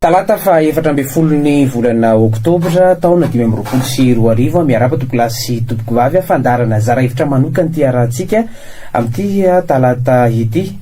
Talata faha efatra ambin'ny folon'ny volana oktobra taona dimy amby roapolo sy roa arivo miarapa tompolasy sy tompoko vavy fandarana zara hevitra manokana ity arahantsika amin'ity talata ity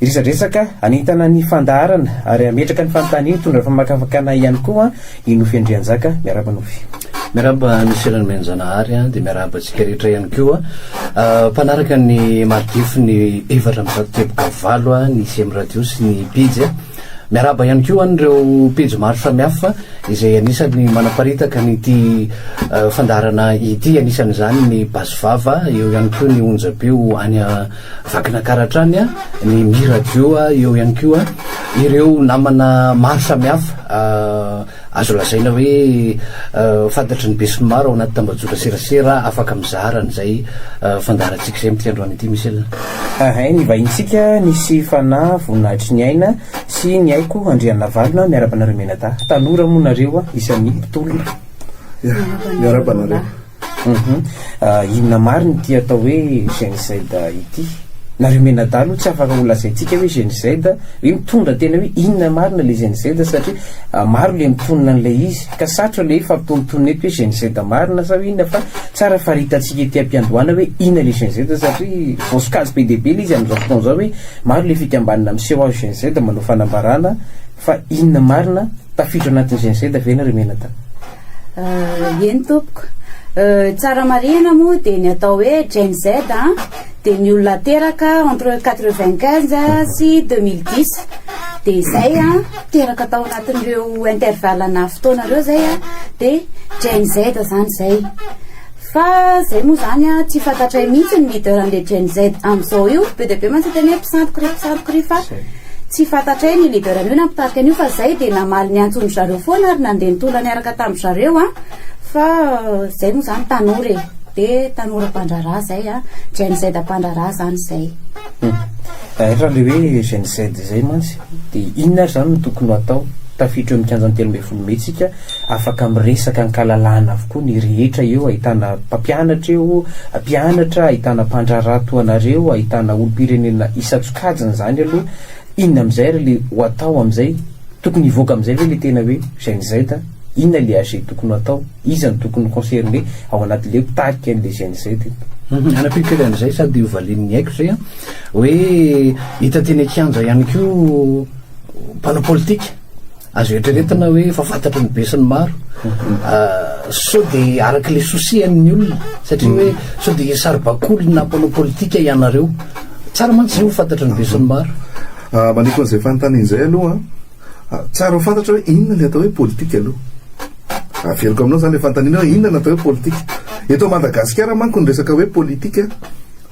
Resadresaka hanentana ny fandaharana ary hametraka ny fanontaniana hitondra famakafakana ihany koa i Nofy Andrianjaka. Miarahaba Nofy. Miarahaba Nosy Ranomenjanahary an, dia miarahaba antsika rehetra ihany koa mpanaraka ny Mardifu ny efatra amby zato teboka valo an, ny ICM Radio sy ny pejy an. Miarahaba ihany koa an'ireo pejy maro samihafa izay anisan'ny manaparitaka an'ity fandaharana ity, anisan'izany ny Basy Vava, eo ihany koa ny Onjam-peo any Vakina kara hatrany ny Mi Radio, eo ihany koa ireo namana maro samihafa azo lazaina hoe fantatry ny besinimaro ao anaty tambajotra serasera afaka mizara an'izay fandaharantsika izay amin'ity androany ity Michel a. Ahay nivahintsika nisy fanahy voninahitry ny aina sy ny haiko Andrianavalona miaraba anareo Menadahy tanora moa nareo isan'ny mpitolona. Miaraba anareo. Humm inona marina ity atao hoe genocide ity? Nareo mianadahy aloha tsy afaka ho lazaintsika hoe genocide hoe mitondra tena hoe inona marina le genocide satria maro le mitonona an'ilay izy ka sarotra le hifampitontonona eto hoe genocide marina sao inona fa tsara faritantsika ety ampiandohana hoe inona le genocide satria vao sokajy be dia be le izy amin'izao fotoana izao hoe maro le fikambanana miseho azy genocide manao fanambarana fa inona marina tafiditra anatin'ny genocide ve nareo mianadahy? Eny tompoko. Tsara marihina moa dia ny atao hoe Gen Z an, dia ny olona teraka entre quatre vingt quinze sy deux mille dix. Dia izay an, teraka tao anatin'ireo intervalle-na fotoana ireo izay an, dia Gen Z izany izay. Fa zay moa zany a tsy fantatray mihitsy ny leader an'le Gen Z amzao io, be dia be mantsy hiteny hoe mpisandoka ry mpisandoka ry fa tsy fantatray ny leader an'io na mpitarika an'io fa zay dia namaly ny antsondry zareo foana ary nandeha nitondra niaraka tam zareo a, fa zay moa zany tanora e, be tanora mpandraharaha zay a, Gen Z mpandraharaha zany zay. Hum, ary raha le hoe Gen Z zay mantsy dia inona ary zany no tokony ho atao? Tafiditra eo amin'ny kianjan'ny telo ambin'ny folo mey tsika, Afaka miresaka ankalalahana avokoa ny rehetra eo, ahitana mpampianatra eo, mpianatra, ahitana mpandraharaha toa anareo, ahitana olompirenena isan-tsokajiny izany aloha, inona amin'izay ary ilay ho atao amin'izay? Tokony hivoaka amin'izay ve ilay tena hoe GNZ a? Inona ilay AG tokony ho atao? Iza no tokony ho concerné ao anatin'ilay hoe mpitarika an'ilay GNZ eto? Hanampiako kely an'izay sady ho valian'ny haiko izay an, hoe hita teny an-kianja ihany koa mpanao politika. Azo eritreretina hoe efa fantatry ny be sy ny maro sao dia araka ilay souci-an'ny olona satria hoe sao dia saribakolina mpanao politika ianareo. Tsara mantsy izay ho fantatry ny be sy ny maro. Ah, maniko an'izay fanontaniana izay aloha an. Ah, tsara ho fantatra hoe inona ilay atao hoe politika aloha. Averiko aminao izany ilay fanontaniana hoe inona no atao hoe politika. Eto Madagasikara manko ny resaka hoe politika,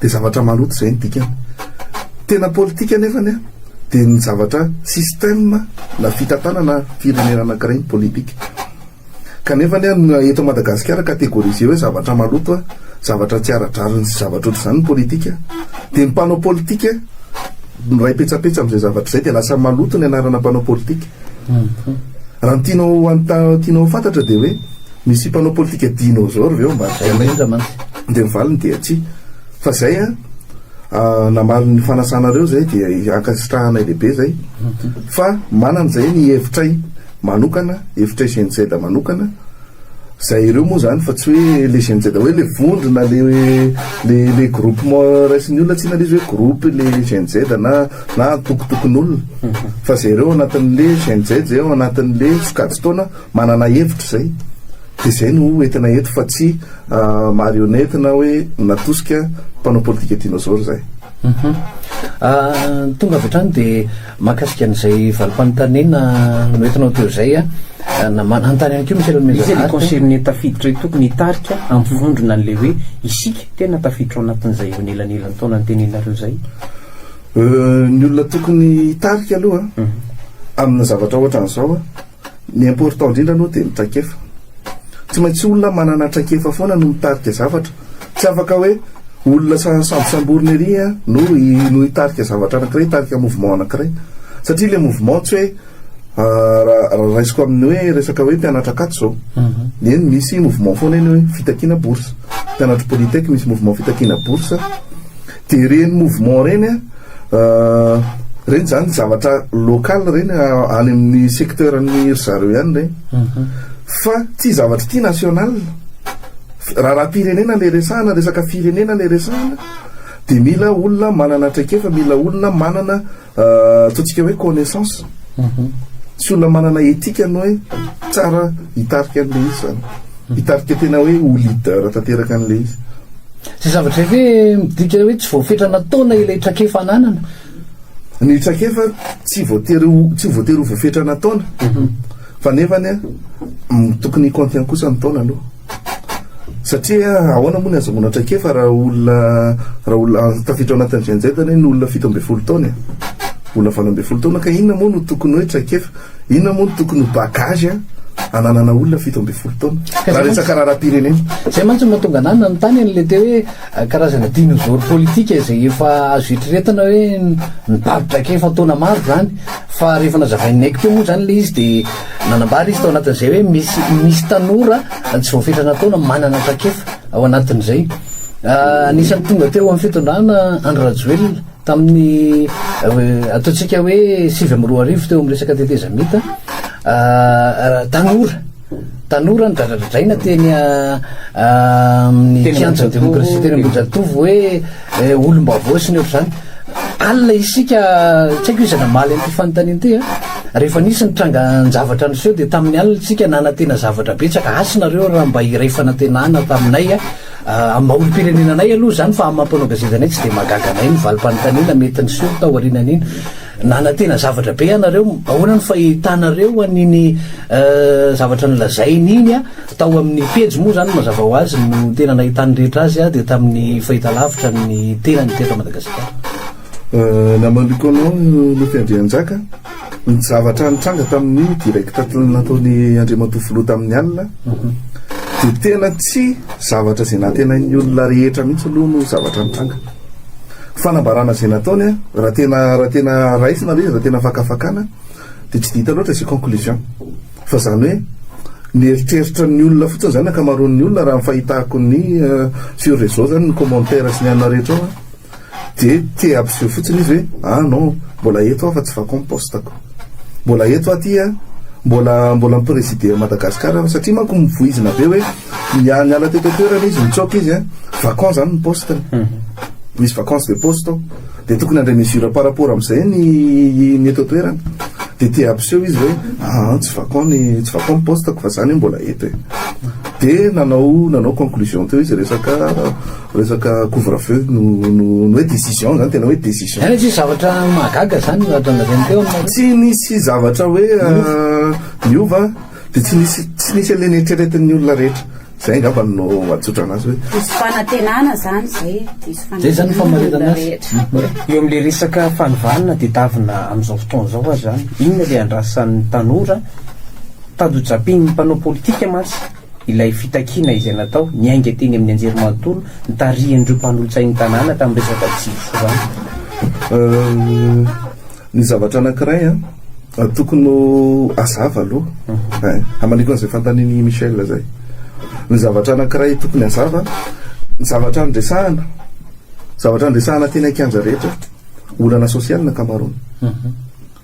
Dia zavatra maloto izay ny dikany. Tena politika anefany an, dia ny zavatra système na fitantanana firenena anankiray ny politika. Kanefany an, ny eto Madagasikara catégorisé hoe zavatra maloto an, zavatra tsy ara-drariny sy zavatra ohatr'izany ny politika. Dia ny mpanao politika miray petsapetsa amin'izay zavatra izay dia lasa maloto ny anarana mpanao politika. Raha ny tianao, raha ny tianao ho fantatra dia hoe, Misy mpanao politika dinôzôro ve ao ambadika anay? Dia ny valiny dia tsia. Fa izay an, namaly ny fanasanareo izay dia ankasitrahanay lehibe izay. Fa manana izay ny hevitray manokana, hevitray GNZ manokana, izay ireo moa izany fa tsy hoe ilay GNZ hoe ilay vondrona, ilay ilay groupement raisin'ny olona, tsy inona ilay izy hoe groupe ilay GNZ na na antokontokon'olona. Fa izay ireo ao anatin'ilay GNZ izay ao anatin'ilay sokajin-taona. Manana hevitra izay, dia izay no ho entina eto fa tsy marionnette na hoe natosika mpanao politika dinosaure izay. Tonga avy hatrany dia mahakasika an'izay valim-panontaniana noentinao teo izay na manontany ihany koa Michel Mezavart. Iza ilay concerne tafiditra io tokony hitarika hampivondrona an'ilay hoe isika tena tafiditra ao anatin'izay eo anelanelan-taona nitenenareo izay? Ny olona tokony hitarika aloha amina zavatra ohatran'izao a! Ny important indrindra aloha dia ny traikefa. Tsy maintsy olona manana traikefa foana no mitarika zavatra. Tsy afaka hoe olona sambosamborina ery an no no hitarika zavatra anankiray, hitarika mouvement anankiray. Satria ilay mouvement tsy hoe raha raisiko amin'ny hoe resaka hoe mpianatra akaty izao. Eny misy mouvement foana eny hoe fitakiana bourse. Mpianatry polytech misy mouvement fitakiana bourse. Dia ireny mouvement ireny an, ireny izany zavatra local ireny any amin'ny secteur ny ry zareo ihany ireny fa tsy zavatra ity national. Raharaham-pirenena ilay resahana, resaka firenena ilay resahana dia mila olona manana traikefa, mila olona manana Ataontsika hoe connaissance. Tsy olona manana éthique no hoe tsara hitarika an'ilay izy izany. Hitarika tena hoe ho leader tanteraka an'ilay izy. Izay zavatra izay ve midika hoe tsy voafetra nataona ilay trakefa ananana? Ny trakefa tsy voatery ho tsy voatery ho voafetra nataona. Fa nefany an, tokony hi-contient kosa ny taona aloha. Satria ahoana moa ny ahazahoana traikefa raha olona raha olona tafiditra ao anatin'ny GNZ anie ny olona fito ambin'ny folo taona e? Olona valo ambin'ny folo taona ka inona moa no tokony hoe traikefa? Inona moa no tokony ho bagage ananana olona fito ambin'ny folo taona? Raha resaka raharaham-pirenena. Izay mantsy no mahatonga anah nanontany an'ilay teo hoe. Karazana dinôzôro pôlitika izay efa azo eritreretina hoe nibavi-draikefa taona maro izany. Fa rehefa nazavain'i Naiky teo moa izany ilay izy dia nanambara izy tao anatin'izay hoe misy misy tanora tsy voafetrana taona manana traikefa ao anatin'izay. Anisan'ny tonga teo amin'ny fitondrana Andry Rajoelina tamin'ny ataontsika hoe sivy amby roa arivo teo amin'ny resaka tetezamita tanora. tanora nidradradradraina teny amin'ny kianja demokrasia teny Ambohijatovo hoe eh, olom-baovao sy ny ohatr'izany alina isika tsy haiko izy namaly an'ity fanontaniana ity a ah. rehefa nisy ny trangan-javatra niseho dia tamin'ny alina tsika nanantena zavatra betsaka asy nareo raha mba iray fanantenana taminay a ah. ah, olom-pirenena anay aloha izany fa amin'ny mampanao gazety anay tsy dia magaga anay ny valim-panontaniana mety niseho tao aorianan'iny Nanantena zavatra be ianareo, ahoana no fahitanareo an'iny zavatra nolazainy iny a? Tao amin'ny pejy moa izany mazava ho azy no tena nahitan'ny rehetra azy a, dia tamin'ny fahitalavitra ny tenany teto Madagasikara. Namandriko anao Nofy Andrianjaka, ny zavatra nitranga tamin'ny direct nataon'i Andriamatoa Filoha tamin'ny alina dia tena tsy zavatra izay nantenain'ny olona rehetra mihitsy aloha no zavatra nitranga. Fanambarana izay nataony a, raha tena raha tena raisina ilay izy, raha tena fakafakana dia tsy dia hita loatra izay conclusion. Fa izany hoe ny eritreritra ny olona fotsiny izany ankamaroan'ny olona raha ny fahitako ny sur réseau izany ny commentaire sy ny anona rehetra ao a dia te hampiseho fotsiny izy hoe ah non mbola eto aho fa tsy vakao ny poste ko. Mbola eto aho aty a, mbola mbola mi-presider an'i Madagascar aho satria manko mivoizina be hoe. Niha- Niala teto an-toerana izy, nitsoaka izy an. Vacant zany ny poste. Misy vacance de poste ao. Dia tokony handray mesure par rapport amin'izay ny ny eto an-toerana. Dia te hampiseho izy hoe aa tsy vacant ny tsy vacant ny poste-ko fa za anie mbola eto e. Dia nanao nanao conclusion teo izy resaka resaka couvre feu no no no hoe décision zany tena hoe décision. Any tsisy zavatra mahagaga zany no ato anareo teo no. Tsy nisy zavatra hoe aa niova. Dia tsy nisy tsy nisy an'ilay neritreretin'ny olona rehetra. Izay angamba no atsotra anazy hoe. Diso fanantenana izany izay e. Diso fanantenana rehetra. Eo amin'ilay resaka fanovana na tedavina amin'izao fotoana izao aza izany, inona ilay andrasan'ny tanora? Tandojam-pian'ny mpanao politika mantsy ilay fitakiana izay natao, niainga teny amin'ny anjerimanontolo nitarihan'ireo mpanolotsain'ny tanàna tamin'ny resaka jiro sy rano. Ny zavatra anankiray an, tokony ho hazava aloha, hamaliako an'izay fanontanian'i Michel zay. Ny zavatra anankiray tokony hazava, ny zavatra andresahana, zavatra andresahana teny an-kianja rehetra, olana social ny ankamaroany.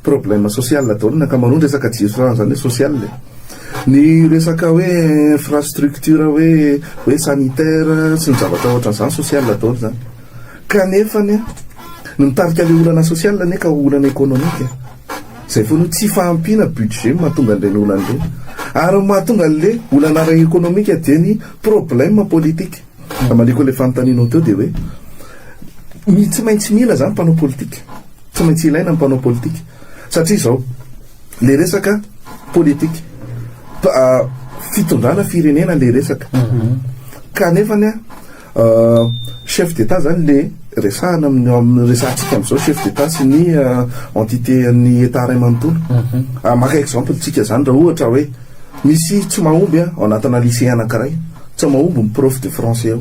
Problème social daholo ny ankamaroany, resaka jirama zany hoe social e. Ny resaka hoe infrastructure hoe hoe sanitaire sy ny zavatra ohatran'izany social daholo zany. Kanefa anie, ny mitarika ilay olana sosialy anie ka ho olana ekonomika. Izay foana io, tsy fahampiana budget no mahatonga an'ireny olana ireny. Ary ny mahatonga an'ilay olana ara-ekonomika dia ny problème politique. Hamaliko an'ilay fanontanianao teo dia hoe, mi, tsy maintsy mila izany ny mpanao politika. Tsy maintsy ilaina ny mpanao politika. Satria izao, ilay resaka politika, pa, fitondrana firenena ilay resaka. Kanefa anie, Chef d'Etat izany le resahana amin'ny amin'ny resahantsika amin'izao chef d'Etat sy ny entité an'ny Etat iray manontolo. Maka exemple tsika izany raha ohatra hoe misy tsy mahomby an ao anatina lycée anankiray, tsy mahomby ny prof de français ao.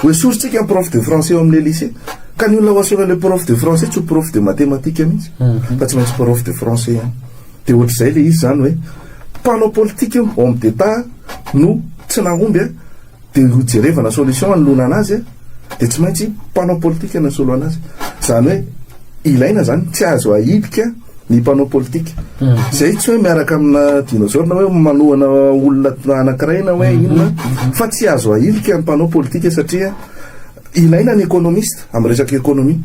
Ho esorintsika ny prof de français ao amin'ilay lycée. Ka ny olona ho asehon'ny ilay prof de français tsy ho prof de mathématiques mihitsy fa tsy maintsy prof de français ihany. Dia ohatr'izay ilay izy izany hoe mpanao politika io, homme d'Etat, no tsy nahomby an. Dia ho jerevana solution hanolorana azy dia tsy maintsy mpanao politika no hisoloana azy. Izany hoe ilaina izany, tsy azo ahilika ny mpanao politika. Izay mhm. tsy hoe miaraka amina dinosaure na hoe manohana olona anankiray na hoe mhm. inona mhm. fa tsy azo ahilika ny mpanao politika satria ilaina ny économiste amin'ny resaka économie.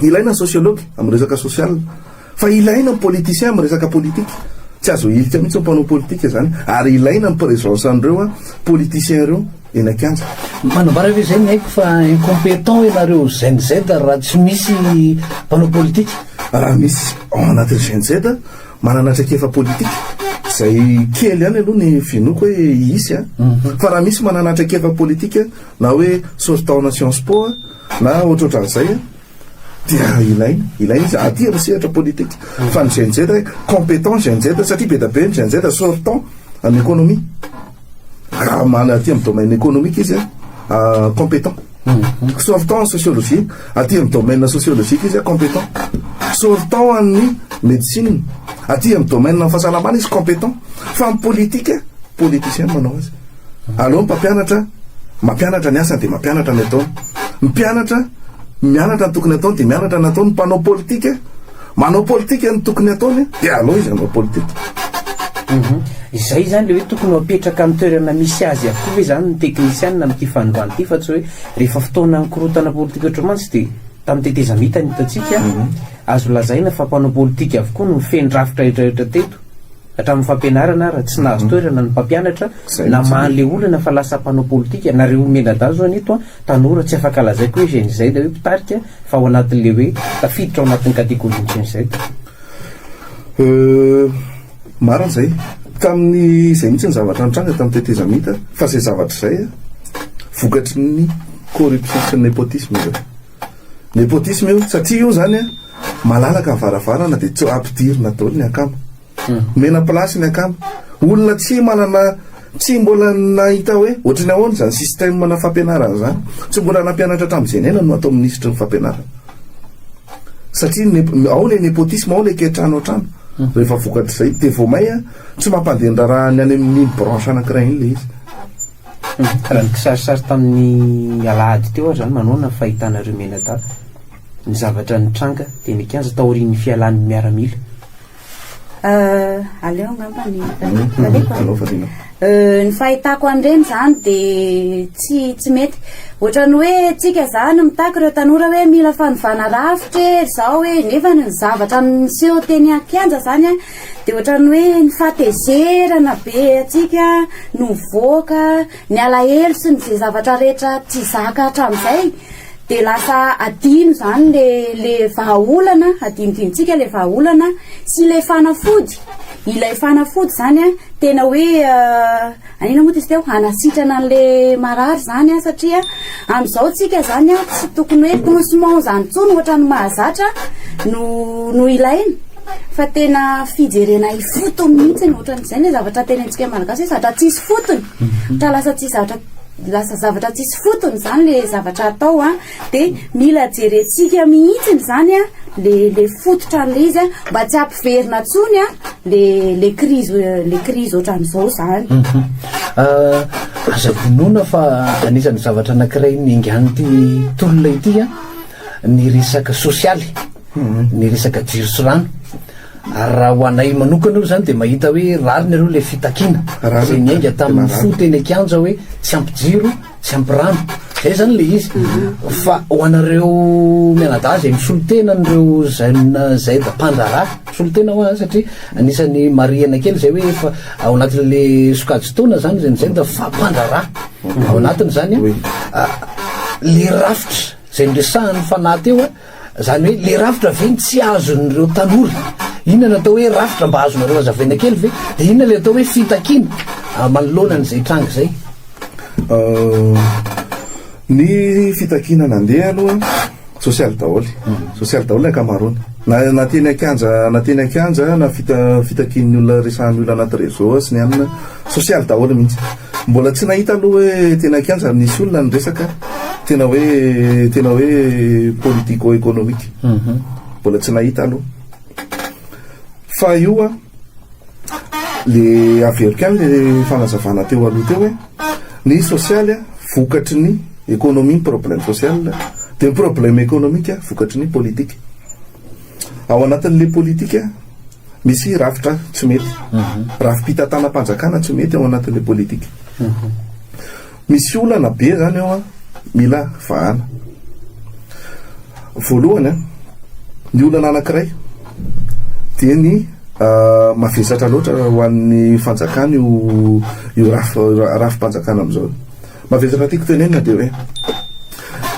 Ilaina ny sociologue amin'ny resaka social. Fa ilaina ny politiciens am resaka politique, tsy azo ahilika mihitsy ny mpanao politique zany, ary ilaina ny presence anreo politiciens reo eny an-kianja. Manambara ve izay ny aiko fa incompetents ianareo Gen Z raha tsy misy mpanao politique? Raha misy ao anatin'ny Gen Z manana traikefa politique, izay kely ihany aloha ny vinoako hoe hisy a, fa raha misy manana traikefa politique na hoe sortant-na Sciences Po na ohatrohatran'izay a, dia ilaina ilaina izy aty amin'ny sehatra politika fa ny GNZ hoe compétent GNZ satria be dia be ny GNZ sortant amin'ny économie raha mana aty amin'ny domaine économique izy a compétent sortant en sociologie aty amin'ny domaine sociologique izy a compétent sortant an'ny médecine aty amin'ny domaine fahasalamana izy compétent fa ny politique politicien manao azy Aleo ny mpampianatra mampianatra ny asany dia mampianatra ny ataony. Ny mpianatra mianatra ny tokony ataony dia mianatra ny ataony. Ny mpanao politika manao politika ny tokony ataony dia aleo izy hanao politika. Izay izany ilay hoe tokony ho apetraka amin'ny toerana misy azy avokoa ve izany ny teknisianina amin'ity fanovana ity fa tsy hoe rehefa fotoana nikorontana politika ohatra mantsy dia tamin'ny tetezamita no hitantsika azo lazaina fa mpanao politika avokoa no feno rafitra rehetra rehetra teto. Hatramin'ny fampianarana ara, tsy nahazo toerana ny mpampianatra namaha an'ilay olana fa lasa mpanao politika. Nareo omena-dahy zao an'ito an, tanora, tsy afaka lazaiko hoe Gen Z hoe mpitarika fa ao anatin'ilay hoe tafiditra ao anatin'ny categorie-n'ny Gen Z. Euh, marina izay. Tamin'ny izay mihitsy ny zavatra nitranga tamin'ny tetezamita, fa izay zavatra izay an, vokatry ny corruption sy ny nepotisme izay. Nepotisme io satria io zany a malalaka ny varavarana de tsy ampidirina daholo ny akama. Omena place ny akama. Olona tsy manana tsy mbola nahita hoe ohatry ny ahoana zany système na fampianarana zany. Tsy mbola nampianatra hatramin'ny Zenena no atao minisitry ny fampianarana. Satria ny ao le nepotisme ao le ke trano an-trano. Rehefa vokatr'izay de vao may a tsy mampandeha ny raharaha ny any amin'iny branche anankiray iny le izy. Raha ny kisarisary tamin'ny alahady teo ary izany, manaona ny fahitanareo mianadahy ny zavatra nitranga teny an-kianja taorian'ny fialan'ny miaramila? Aleo angamba ny taleko a. Ny fahitako an'ireny izany dia tsy tsy mety. Ohatran'ny hoe tsika izany mitaky ireo tanora hoe mila fanovana rafitra e, izao e, nefa ny zavatra niseho teny an-kianja izany a, Dia ohatran'ny hoe ny fahatezerana be antsika no mivoaka, ny alahelo sy ny izay zavatra rehetra tsy zaka hatramin'izay dia lasa adino izany ilay ilay vahaolana, adinodinontsika ilay vahaolana sy ilay fanafody, ilay fanafody izany an tena hoe Naninona moa izy teo? Hanasitrana an'ilay marary izany an, satria amin'izao tsika izany an, tsy tokony hoe pansement izany intsony ohatran'ny mahazatra no no ilaina fa tena fijerena ifotony mihitsy ny ohatran'izay ny zavatra tenentsika malagasy hoe zatra tsisy fotony, mhm. ohatran'ny lasa tsisy zavatra lasa zavatra tsisy fotony izany ilay zavatra atao an. De mila jerentsika mihitsiny izany a, le le fototra an'ilay izy a, mba tsy hampiverina intsony a le le krizy le krizy ohatran'izao izany. Aza vonoina fa anisan'ny zavatra anankiray niaingan'ity tolona ity a, ny resaka sosialy, ny resaka jiro sy rano. Ary raha ho anay manokana aloha izany dia mahita hoe rariny aloha ilay fitakiana izay niainga tamin'ny fo teny an-kianja hoe tsy ampy jiro, tsy ampy rano zay zany le izy fa ho anareo mianadahy zay misolo tena an'ireo jeune zay da mpandraharaha misolo tena hoa satria anisan'ny marihana kely zay hoe efa ao anatin'le sokajy taona zany zay zay da fa mpandraharaha ao anatiny zany a le rafitra zay niresahan'ny fanahy teo a Zany hoe le rafitra ve no tsy azon'ireo tanora? Inona no atao hoe rafitra mba azonareo azavaina kely ve? De inona le atao hoe fitakiana manoloana an'izay tranga izay? Ny fitakiana nandeha aloha sosialy daholo e, sosialy daholo ny ankamaroany, na na teny an-kianja na teny an-kianja na fita- fitakian'ny olona resahan'ny olona anaty réseau sy ny anona, sosialy daholo mihitsy. Mbola tsy nahita aloha hoe tena kianja no nisy olona ny resaka tena hoe tena hoe politico economique. Mhm. Mbola tsy nahita aloha. Fa io an, le averiko ihany le fanazavana teo aloha teo hoe ny sosialy an, vokatry ny ekonomia ny problème social, dia ny problème ekonomika vokatry ny politika. Ao anatin'ilay politika Misy rafitra tsy mety. Rafi-pitantanam-panjakana tsy mety ao anatin'ilay politika. Misy olana be izany ao an, mila vahana. Voalohany an, ny olana anankiray dia ny mavesatra loatra ho an'ny fanjakana io rafi-panjakana amin'izao io. Mavesatra tiako tenenina dia hoe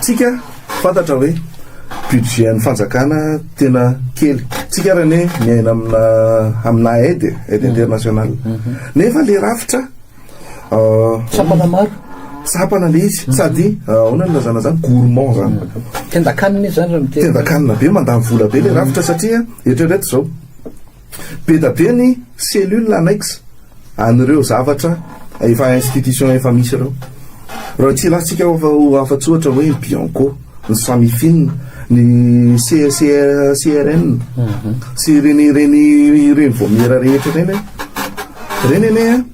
tsika fantatra hoe budget an'ny fanjakana tena kely tsika ary anie miaina amina amina aide aide internationale nefa le rafitra tsapana maro tsapana le izy sady ahoana ny lazana zany gourmand zany tendakanina izy zany raha miteny tendakanina be mandany vola be le rafitra satria eritrereto zao Beda be ny cellule annexe an'ireo zavatra efa institution efa misy ireo. Raha tsy ilatsika ho afa-tsy ohatra hoe ny Bianco, ny Samifin, ny CRN sy ireny ireny ireny vaomiera rehetra ireny an. Ireny anie an,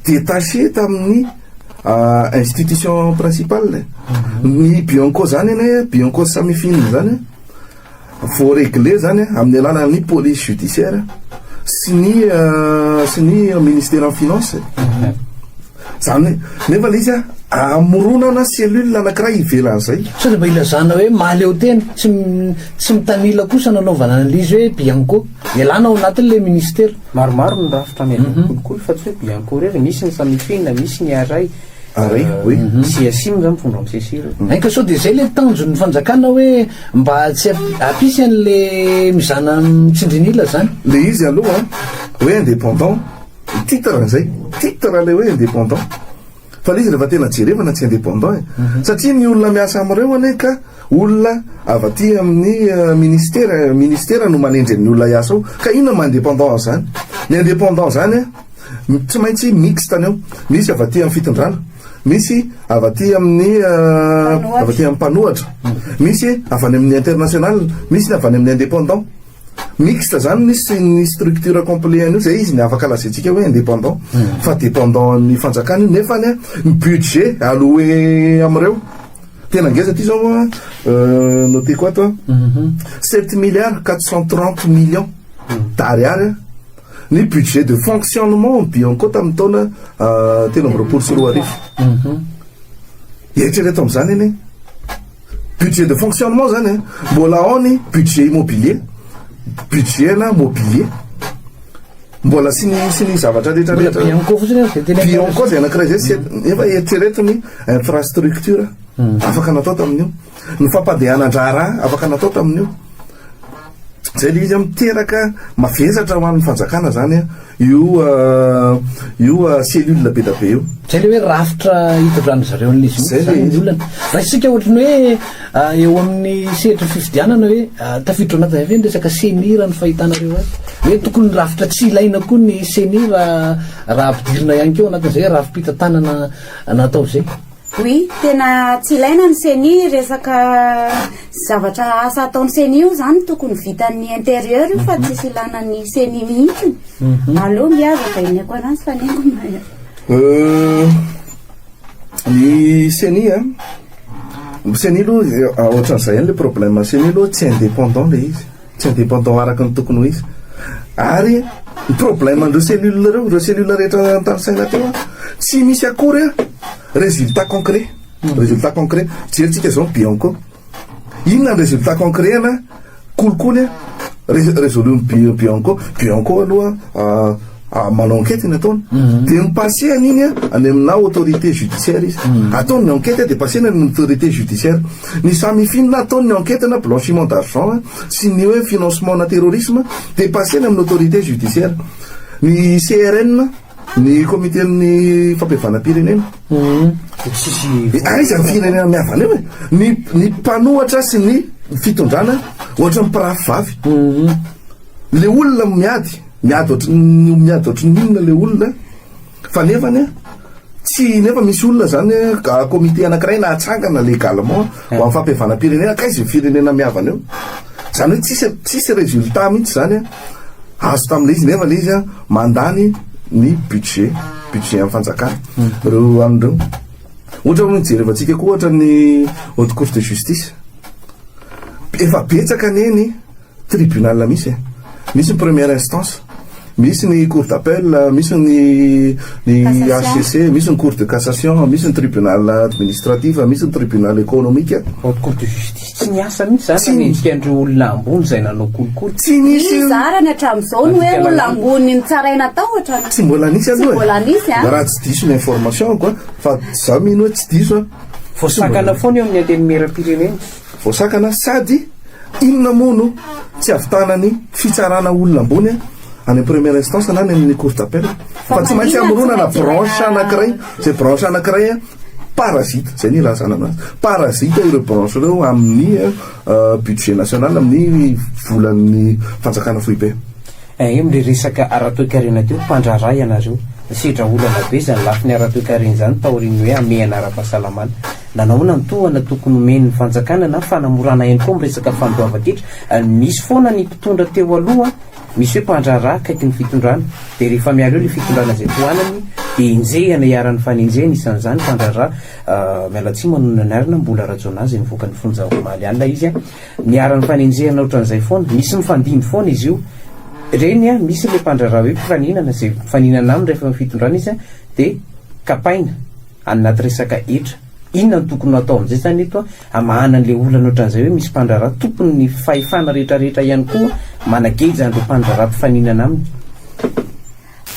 detacher tamin'ny institution principale e. Ny Bianco izany anie, Bianco sy Samifin izany an. Vao regler zany amin'ny alalan'ny police judiciaire sy ny sy ny ministeran'ny finances e. Zany hoe nefa le izy amoronana cellule anankiray ivelan'izay. Sao dia mba ilazana hoe mahaleo tena, tsy tsy mitanila kosa nanaovana analyse hoe bianco ialana ao anatin' ilay ministera. Maromaro ny rafitra amelan'ny kolikoly fa tsy hoe bianco irery, misy ny samifin, misy ny arai. Ary hoe CSIM zany mitondra am CSIR. Mainka sao dia zay le tanjon'ny fanjakana hoe mba tsy hampisy an'le mizana mitsindrin'ila zany. Le izy aloha hoe indépendant, ny titre an'izay, titre ilay hoe indépendant, fa le izy rehefa tena jerevana tsy indépendant e. Satria ny olona miasa amin'ireo anie ka olona avy aty amin'ny ministera, ministera no manendry an'ny olona hiasa ao, ka inona no maha indépendant azy zany? Ny indépendant zany a. Tsy maintsy mixte ny ao. Misy avy aty amin'ny fitondrana, misy avy aty amin'ny avy aty amin'ny mpanohatra, misy avy any amin'ny international, misy ny avy any amin'ny indépendant. Mixte zany ny ny structure complet an'io, zay izy ny afaka lazaintsika hoe indépendant fa dépendant an'ny fanjakana io nefa ny budget alloué amin'ireo tena ngeza aty zao an noteko ato an sept milliards quatre cent trente millions d'ariary an. Ny budget de fonctionnement ny Bianco tamin'ny taona telo amby roapolo sy roa arivo. Mhm. Eritrereto amin'izany anie. Budget de fonctionnement zany eh. Mbola ao ny budget immobilier, budget na mobilier. Mbola sy ny sy ny zavatra rehetra rehetra. Bianco fotsiny dia tena Bianco dia anankiray zay sy efa eritrereto ny infrastructure mhm. afaka natao tamin'io. Ny fampandehanan-draharaha afaka natao tamin'io, izay ilay izy an, miteraka mavesatra ho an'ny fanjakana izany an, io io cellule be dia be io. Izay ilay hoe rafitra hitondran'izy ireo an'ilay izy mihitsy izany ny olana. Raha isika ohatra ny hoe eo amin'ny sehatry ny fifidianana hoe tafiditra ao anatin'izay ve ny resaka ceni raha ny fahitanareo azy? Hoe tokony ny rafitra tsy ilaina koa ny ceni raha raha ampidirina ihany koa ao anatin'izay hoe rafi-pitantanana natao izay? Oui, tena tsy ilaina ny ceni, resaka zavatra asa ataon'ny ceni io izany tokony vitan'ny interieur io fa tsisy ilana ny ceni mihitsy, mhm. aleo nge aza vaineko anazy fa nengona e. Euh, ny ceni a, ny ceni aloha eh, ohatran'izay ihany le problème, ceni aloha tsy indépendant le izy. tsy indépendant araka ny tokony ho izy ary ny problème an'ireo cellule ireo, ireo cellule rehetra notanisaina teo an, tsy misy akory an résultat concret, résultat concret, jerintsika izao ny Bionco, inona ny résultat concret ana kolikoly an, ré-résolu ny Bi-Bionco, Bionco aloha an. ah, manao enquête ny ataony mhm. dia mipasehana iny a ah, any aminà autorité judiciaire izy mhm. ataony ny enquête dia pasehana ny autorité judiciaire ny samifinina ataony ny enquête na blanchiment d'argent ah, sy ny hoe financement na terrorisme dia pasehana amin'ny autorité judiciaire ny crn ny comité amin'ny fampihavanam-pirenena mhm. aiza ah, ny firenena mihavana eo e ny ny mpanohatra sy ny fitondrana ohatra ny pirafy vavy le olona miady Miady ohatrin'ny miady ohatrin'ny olona le olona fa nefany a tsy nefa misy olona zany a comité anakiray nahatsangana légalement ho an'ny fampihavanam-pirenena k'aiza io firenena mihavana io? zany hoe tsisy tsisy résultat mihitsy zany a azo tamin'le izy nefa le izy a mandany ny budget budget an'ny fanjakana reo an'ny reo ohatra hoe jerevantsika koa ohatra ny haute cour de justice efa betsaka anie ny Tribunal misy e! Misy ny première instance, misy ny cour d'appel, misy ny ny HCC, misy ny cour de cassation, misy ny tribunal administratif, misy ny tribunal économique. Haute cour de justice tsy niasa mihitsy zany raha mendrika an'ireo olona ambony izay nanao kolikoly. Tsy nisy. Iza ary ny hatramin'izao ny hoe olona ambony nitsaraina tao hatramin'izao? Tsy mbola nisy aloha e. Tsy mbola nisy an. Raha tsy diso ny information-ko an, fa izaho mino hoe tsy diso an. Voasakana foana eo amin'ny antenimieram-pirenena. Voasakana sady inona moa no tsy havitanan'ny fitsarana olona ambony any amin'ny première instance na any amin'ny cour d'appel fa tsy maintsy amoronana branche anankiray izay branche anankiray parasite izay ny ilazana anazy parasite ireo branche ireo amin'ny budget national amin'ny volan'ny fanjakana foibe. Ahem le resaka ara-toekarena teo mpandraharaha ianareo. Nisedra olana be izany lafiny ara-toekarena izany taorian'ny hoe hamehana ara-pahasalamana. Nanahoana ny tohana tokony homen'ny fanjakana na fanamorana ihany koa amin'ny resaka fandoavan-titra? Misy foana ny mpitondra teo aloha misy hoe mpandraharaha akaiky ny fitondrana dia rehefa miala eo ilay fitondrana izay tohanany dia enjehina iharan'ny fanenjehana isan'izany mpandraharaha miala tsiny manonona ny arina mbola rajaonah izay nivoaka ny fonja omaly alina izy Niharan'ny fanenjehana ohatran'izay foana. Misy mifandimby foana izy io. Reny an, misy ilay mpandraharaha hoe mpifaninana, izay mifaninana aminy rehefa eo amin'ny fitondrana izy an, dia kapaina any anaty resaka hetra. Inona no tokony ho atao amin'izay izany eto an? Hamahana an'ilay olana ohatran'izay hoe misy mpandraharaha, tokony ny fahefana rehetrarehetra ihany koa manageja an'ireo mpandraharaha mpifaninana aminy.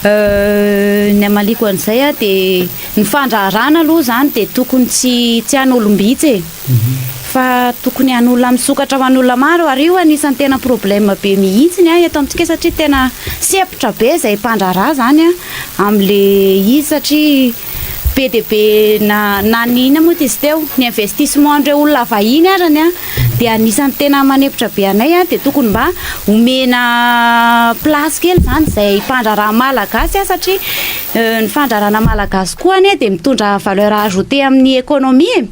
Ny hamaliako an'izay aho dia ny fandraharahana aloha izany dia tokony tsy tsy an'olom-bitsy e. Mhm. Fa tokony an'olona misokatra ho an'olona maro ary io anisan'ny tena problème be mihitsy ny ahy eto amintsika satria tena sepotra be izay mpandraharaha izany amin'ilay izy satria be dia be na ny inona moa izy teo, ny investissement an'ireo olona vahiny arany dia anisan'ny tena manempotra be anay dia tokony mba omena place kely izany izay mpandraharaha malagasy satria ny fandraharahana malagasy koa anie dia mitondra valeur ajoutée amin'ny économie e,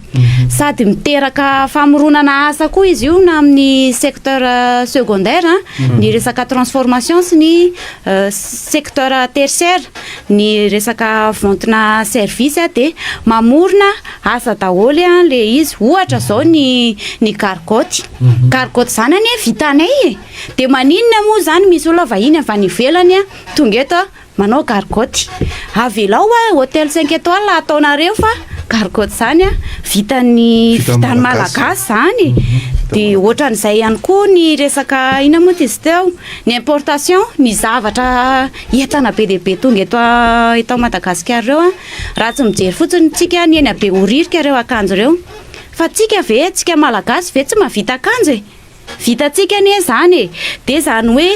sady miteraka famoronana asa koa izy io na amin'ny secteur secondaire ny resaka transformation sy ny secteur tertiaire. ny resaka vontina service a dia mamorona asa daholo a le izy ohatra zao ny ny gargotte mhm. gargotte zany anie vitanay e de maninona moa zany misy olona vahiny avy any ivelany a tonga eto a manao gargotte avelao a hotel cinq étoiles ataonareo fa gargotte zany a vitan'ny vitany malagasy zany mhm. de ohatran'izay ihany koa ny resaka ina moa ty izy teo ny importation ny zavatra Entana be dia be tonga eto eto Madagasikara ireo an! Raha tsy mijery fotsiny tsika ny eny Behoririka ireo akanjo ireo. Fa tsika ve, tsika Malagasy ve tsy mahavita akanjo e! Vitantsika anie izany e! Dia izany hoe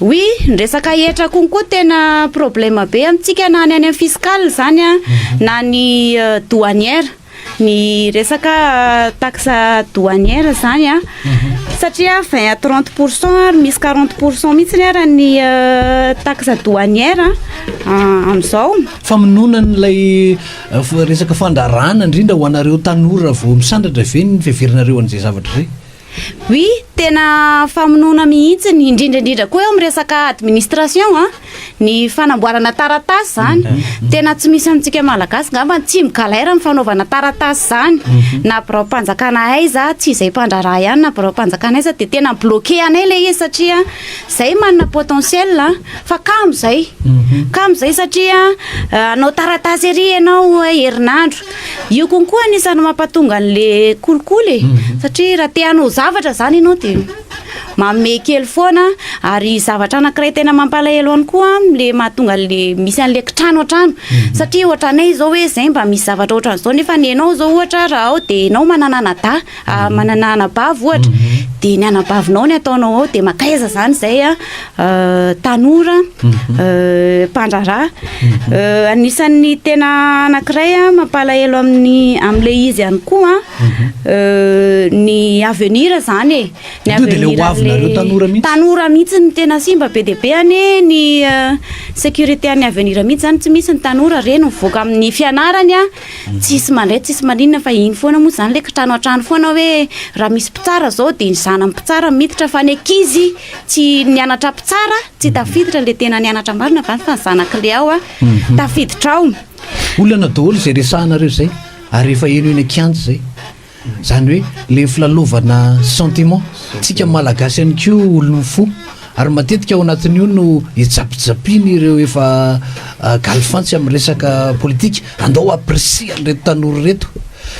Oui, ny resaka hetra koa koa tena problème be amintsika na ny any amin'ny fiscal izany an, na ny douanière. Ny resaka taxe douanière izany an, satria vingt à trente pour cent ary misy quarante pour cent mihitsy ary ny taxe douanière amin'izao. Famonoana an'ilay resaka fandraràna indrindra ho anareo tanora vao misandratra ve ny fiheveranareo an'izay zavatra izay? Oui, tena famonoana mihitsy ny indrindra indrindra koa eo amin'ny resaka administration an, ah, ny fanamboarana taratasy izany. Mhm. Mhm. Tena tsy misy amintsika malagasy ngamba ny tsy migalera amin'ny fanaovana taratasy izany. Mhm. Na biraom-panjakana aiza, tsy izay mpandraharaha ihany na biraom-panjakana aiza dia tena bloqué anay ilay izy satria izay manana potentiel an, ah, fa kamo izay. Kamo izay satria ah, hanao taratasy ery ianao herinandro, Io konko anisan'ny mampatonga an'le kolikoly e. Mhm. Satria raha te hanao zavatra zany ianao de manome kely foana ary zavatra anankiray tena mampalahelo any koa le mahatonga le misy an'le kitrano an-trano. Mhm. Satria ohatranay izao hoe zay mba misy zavatra ohatran'izao nefa ny ianao izao ohatra raha ao de ianao manana anadahy. Ah, manana anabavy ohatra mhm. dia ny anabavinao ny ataonao ao dia makaiza zany zay a ah, tanora mhm. ah, mpandraraha mhm. eh, anisan'ny tena anakiray a mampalahelo amin'ny am'le izy ihany koa eh, ny avenir zany e ny avenir tanora mihitsy ny tena simba be deibe ane ny eh, sécurité an'ny avenir mihitsy zany tsy misy ny tanora reny mivoaka amin'ny fianarany a Tsisy mandray tsisy maninona fa iny foana moa izany ilay kitrano hatrany foana hoe raha misy mpitsara izao dia ny zanany mpitsara miditra fa ny ankizy tsy nianatra mpitsara tsy tafiditra ilay tena nianatra marina fa ny zanak'ilay ao a mhm. tafiditra ao. Olana daholo izay resahanareo izay ary efa eny eny an-kianja izay. Zany hoe le filalaovana sentiment tsika malagasy ihany koa olon'ny fo ary matetika ao anatin'io no ijapijapin' ireo efa ah, galifantsy amin'ny resaka politika andao apprécier an'ireto tanora ireto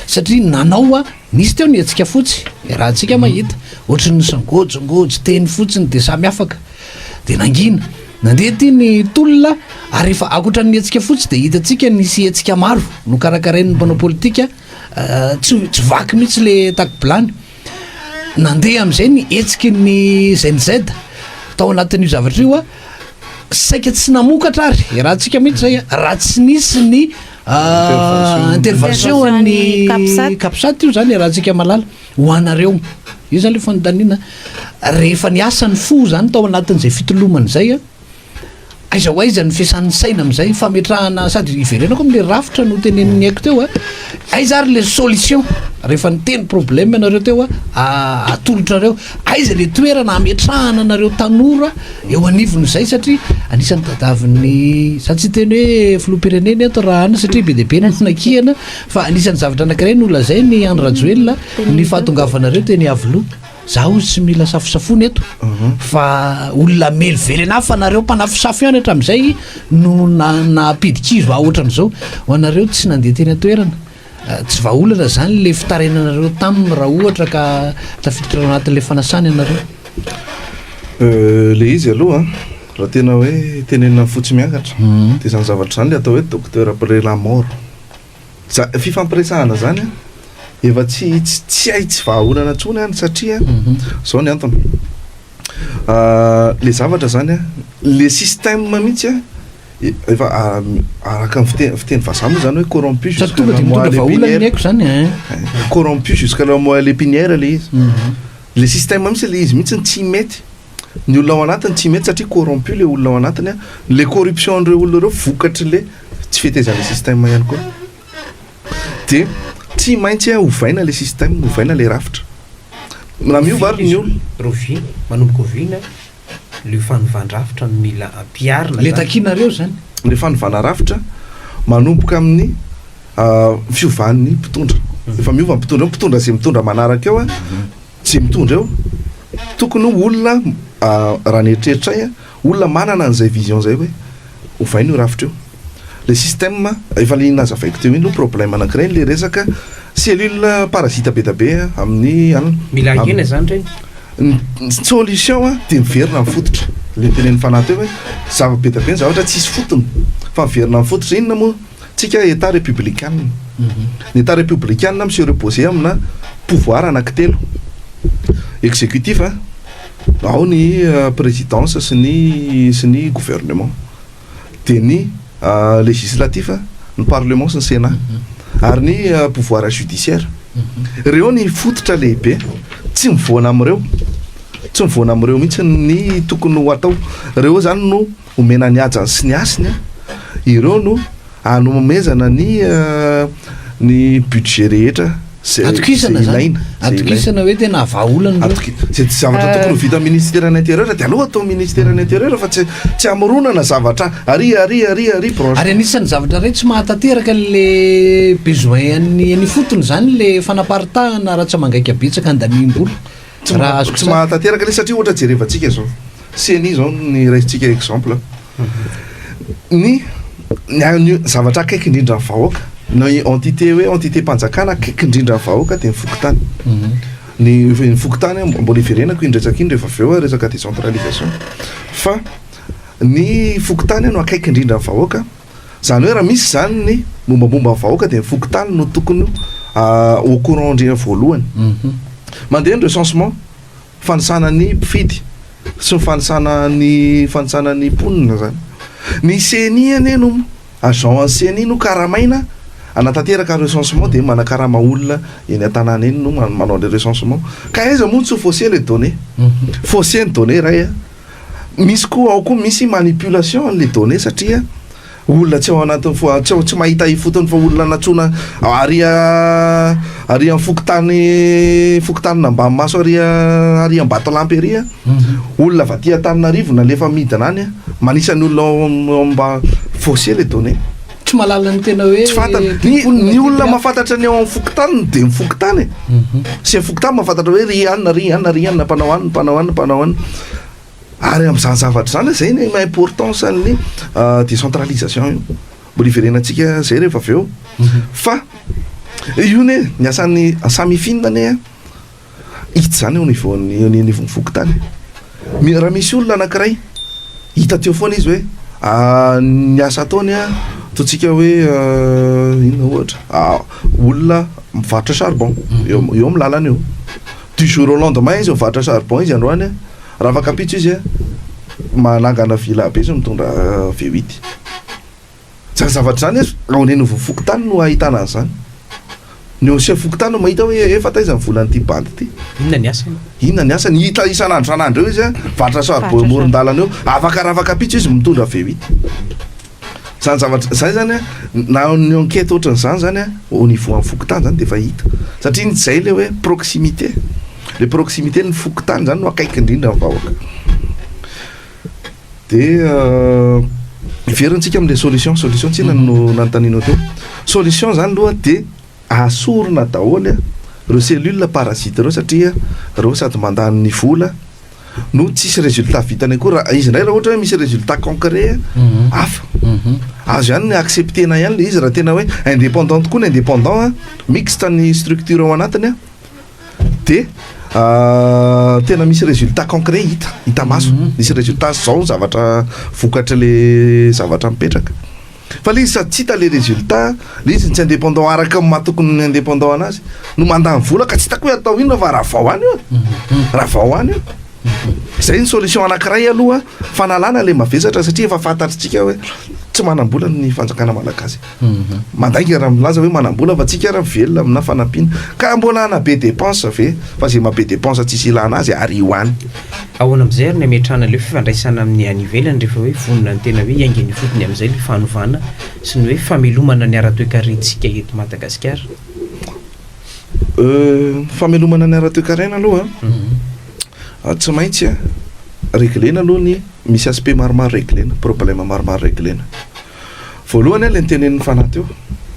satria nanao a nisy teo ny hetsika fotsy raha antsika mhm. mahita ohatry ny sangojongojy teny fotsiny de samy afaka de nangina nandeha ty ny tolona ary efa akoatra ny hetsika fotsy de hitantsika nisy hetsika maro no karakarain'ny mpanao politika Tsy tsy vaky mihitsy le takobilany. Nandeha amin'izay ny hetsiky ny Gen Z tao anatin'io zavatra io saika tsy namokatra ary iarahantsika mihitsy zay raha tsy nisy ny ah, intervention an'ny capsat io zany iarahantsika malala ho anareo io zany le fanontaniana rehefa niasa ny fo zany tao anatin'izay fitolomana izay a Aiza ho aiza ny fiasan'ny saina amin'izay? Fametrahana sady iverenako amin'ilay rafitra notenenin'i Aiko teo a, aiza ary ilay solution? Rehefa niteny problème ianareo teo a, atolotra anareo, aiza ilay toerana hametrahana anareo tanora eo anivon'izay satria anisan'ny tadiavin'ny, za tsy hiteny hoe filoham-pirenena eto raha any satria be dia be ny fanakiana fa anisan'ny zavatra anankiray nolazain'i Andry Rajoelina ny fahatongavanareo teny Iavoloha. Za hozy tsy mila safosafoana eto fa olona mely velena fa nareo mpanafosafo ihany hatramin'izay no nampidikiro va ohatran'izao ho anareo tsy nandeha teny an-toerana eh, tsy vahaolana izany le fitarenanareo taminy raha ohatra ka tafiditra ao anatin'ilay fanasana ianareo eh, le izy aloha raha tena hoe tenenina fotsy miangatra mhm. dia izany zavatra izany le atao hoe docteur après la mort Za- fifampiresahana zany an, efa tsy tsy tsy hay tsy vahaolana intsony an, satria zao ny antony Ah, le zavatra zany an, le système mihitsy an, e- efa ah, araka ny fite- fiteny vazaha moa zany hoe corrompu Sady jusqu'à tonga la dia mitondra moelle vahaolana ny épinière. aiko zany eh. corrompu jusqu'à la moelle épinière le izy le système mihitsy le izy mihitsy no tsy mety ny olona ao anatiny tsy mety satria corrompu le olona ao anatiny a, le corruption an'ireo olona ireo vokatry le tsy fetezan'le système ihany koa, de tsy maintsy a ovaina le système, ovaina le rafitra, na miova ary ny olona. Rovina, manomboka oviana le fanovan-drafitra no mila ampiharina zany? Le takianareo zany? Le fanovana rafitra manomboka amin'ny fiovan'ny mpitondra, efa miova ny mpitondra eo, mpitondra ze mitondra manaraka eo a, Tsy mitondra eo. Tokony ho olona, raha ny eritreritray an, olona manana an'izay vision izay hoe ovaina io rafitra io. Ilay système, efa ilay nazavaiko teo iny aloha problème anankiray ilay resaka cellule parasite be dia be amin'ny an. Mila hakena izany ireny. Ny solution an, dia miverina amin'ny fototra. Ilay notenenin'i Fanahy teo hoe zava-be dia be ny zavatra tsisy fotony, fa miverina amin'ny fototra. Inona moa? Tsika Etat Republikana. Ny Etat Republikana mi se reposer amina pouvoir anakitelo, executif, ao ny presidence sy ny sy ny gouvernement, dia ny legislatif, ny parlement sy ny senat, ary ny pouvoir judiciaire. Ireo ny fototra lehibe. Tsy mivoana amin'ireo, tsy mivoana amin'ireo mihitsy ny tokony ho atao. Ireo izany no. Omena ny hajany sy ny hasiny an! Ireo no anomezana ny ny budget rehetra ze Atokisana zany, ilaina, ze ilaina. atokisana hoe tena vahaolana ireo. Atoki- ze zavatra tokony ho vita ministeran'ny intérieur dia aleo atao ministeran'ny intérieur fa tsy tsy amoronana zavatra ary ary ary ary branche. Ary anisan'ny zavatra iray tsy mahatanteraka an'le besoin an'ny any ifotony zany le fanaparitahana ara-tsamangaika betsaka handaniam-bola. Tsy Raha azoko tsy tsara. mahatanteraka le satria ohatra jerevantsika zao ceni zao ny raisintsika exemple ny ny a- ny zavatra akaiky indrindra ny vahoaka na i- entité hoe entité mpanjakana akaiky indrindra ny vahoaka de ny fokontany ny f- ny fokontany a mbola iverenako iny resaka iny rehefa avy eo a resaka décentralisation fa ny fokontany no akaiky indrindra ny vahoaka Izany hoe raha misy izany ny mombamomba ny vahoaka dia ny fokontany no tokony ho au courant indrindra voalohany. Mandeha ny recensement, fanisana ny mpifidy sy ny fanisana ny fanisana ny mponina izany. Ny ceni anie no agent an'ny ceni no karamaina hanatanteraka recensement dia manakarama olona eny an-tanàna eny no manao an'ilay recensement. Ka aiza moa no tsy ho faussé ilay données? Faussé ny données iray a! Misy koa ao koa misy manipulation an'le données satria olona tsy ao anatin'ny fo- tsy ao- tsy mahita ifotony fa olona natsoina ary ary amin'ny fokontany fokontany Nambanimaso ary ary Ambatolampy ary a olona avy aty Antananarivo nalefa midina any a manisa ny olona ao am- ao am- mba faussé le données. tsy mahalala ny tena hoe ny olona mafantatra ny ao amin'ny fokontany de ny fokontany e mhm. sy ny fokontany mafantatra hoe ry anna ry anna ry anna mpanao anna mpanao anna mpanao anna ary am'izany zavatra zany zay ny ma importance an'ny euh, décentralisation io mbola iverenantsika zay rehefa avy eo mhm. fa io ne ny asan'ny samifina ne Hita izany eo anivon'ny eo anivon'ny fokontany. Raha misy olona anankiray hita teo foana izy hoe ny asa ataony an, ataontsika hoe inona ohatra, olona mivarotra charbon eo eo amin'ny lalana eo. Du jour au lendemain izy mivarotra charbon izy androany an, raha afaka ampitso izy an, manangana villa be izy mitondra V8. Izany zavatra izany aza ao an'Renivohitra fokontany no ahitana an'izany. Ny ancien fokontany no mahita hoe efa taiza ny volan'ity bandy ity. Inona ny asany? Inona ny asany? Hita isan'andro isan'andro eo izy a, varotra charbon eo amoron-dalana eo. Afaka raha afaka pizza izy mitondra avy eo ito. Izany zavatra izay izany a, na ny enquête ohatran'izany izany a, au niveau an'ny fokontany izany dia efa hita. Satria iny izay ilay hoe proximité. Ilay proximité ny fokontany izany no akaiky indrindra ny vahoaka. Dia hiverina tsika amin'ilay solution, solution tsinona no mhm. nanontanianao teo. Solution zany loha dia asorina daholo ireo cellule parasite ireo satria ireo sady mandany ny vola no tsisy résultat vitany akory raha izy indray raha ohatra hoe misy résultat concret mhm. hafa mhm. azo ihany ny acceptena ihany le izy raha tena hoe indépendant tokoa ny indépendant mixte ny structure ao anatiny a dia tena misy résultat concret hita hita maso mhm. misy résultat zao ny zavatra vokatry le zavatra mipetraka fa le izy sady tsy hita le résultat le izy ny tsy indépendant araka ny mahatokony ny indépendant anazy no mandany vola ka tsy hitako hoe atao inona fa raha vao any io mhm. raha vao any io izay ny solution anankiray aloha fanalana le mavesatra satria efa fantatritsika hoe tsy manam-bola ny fanjakana malagasy Mandainga raha milaza hoe manam-bola fa tsika ary mivelona amina fanampiana. Ka mbola ana be depense ve? Fa ze maha be depense tsisy ilana azy ary io any. Ahoana amizay ary ny ametrahana ilay fifandraisana amin'ny any ivelany rehefa hoe vonona ny tena hoe hiainga any ifotony amizay ilay fanovana sy ny hoe famelomana ny ara-toekarentsika eto Madagasikara? Euh, famelomana ny ara-toekarena aloha an, tsy maintsy reglena aloha ny, misy aspect maromaro reglena, problème maromaro reglena. Voalohany ilay nitenenin'ny fanahy teo,